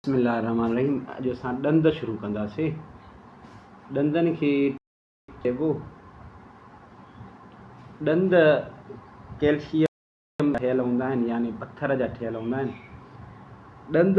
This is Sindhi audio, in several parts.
بسم الله الرحمٰن الرحيم اڄ اسان ڏند شروع ڪنداسين ڏندن کي چئبو ڏند ڪيلشيم ٺهيل هوندا آهن يعني پٿر جا ٺهيل هوندا آهن ڏند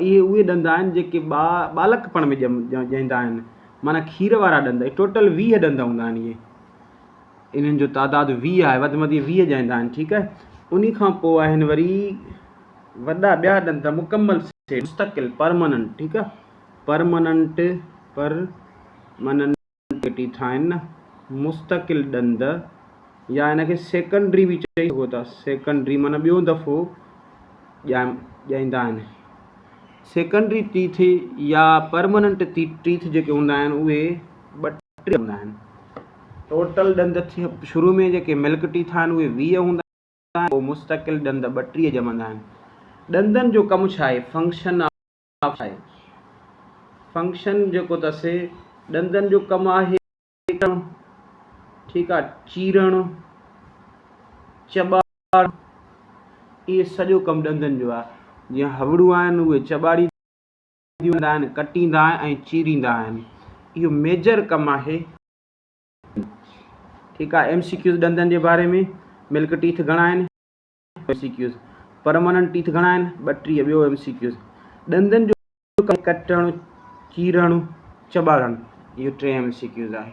اهي اهي ڏند آهن جيڪي ٻا ٻالڪپڻ ۾ ڄائيندا آهن معنيٰ کير وارا ڏند ٽوٽل ويهه ڏند هوندا آهن اهي انهن جو تعداد ويهه آهي وڌ مڌ ويهه ڄائيندا آهن ٺيڪ آهي انهي کان پوء آهن وري وڏا ٻيا ڏند مڪمل مستقل پرماننٽ ٺيڪ آهي پرماننٽ پرماننٽ ٽي ٿا آهن نه مستقل ڏند يا ان کي سيڪنڊري به چئي سگهو ٿا سيڪنڊري معنيٰ ٻيو دفعو ڄائم ڄائيندا آهن سيڪنڊري ٽيٿ يا پرماننٽ ٽيٿ جيڪي هوندا آهن اهي ٻه ٽي هوندا آهن ٽوٽل ڏند شروع ۾ جيڪي ملڪ ٽيٿ آهن اهي ويهه هوندا آهن پوء مستقل ڏند ٻٽيهه ڄمندا آهن ڏندن جو ڪم ڇا آهي فنڪشن آهي. فنڪشن جيڪو اٿس ڏندن جو ڪم آهي ڪٽڻ ٺيڪ آهي چيرڻ چٻاڙڻ اهي سڄو ڪم ڏندن جو آهي جيئن هوڙون آهن اهي چٻاڙي ڏيندا آهن ڪٽيندا آهن ۽ چيريندا آهن اهو ميجر ڪم آهي ٺيڪ آهي ايم سي ڪيوز ڏندن جي باري ۾ ملڪ ٽيٿ گهڻا آهن MCQs, permanent teeth گهڻا آهن؟ ٻٽيهه، ٻيو ايم سي ڪيوز، ڏندن جو ڪم آهي ڪٽڻ، چيرڻ، چٻاڙڻ، اهو ٽئين ايم سي ڪيوز آهي.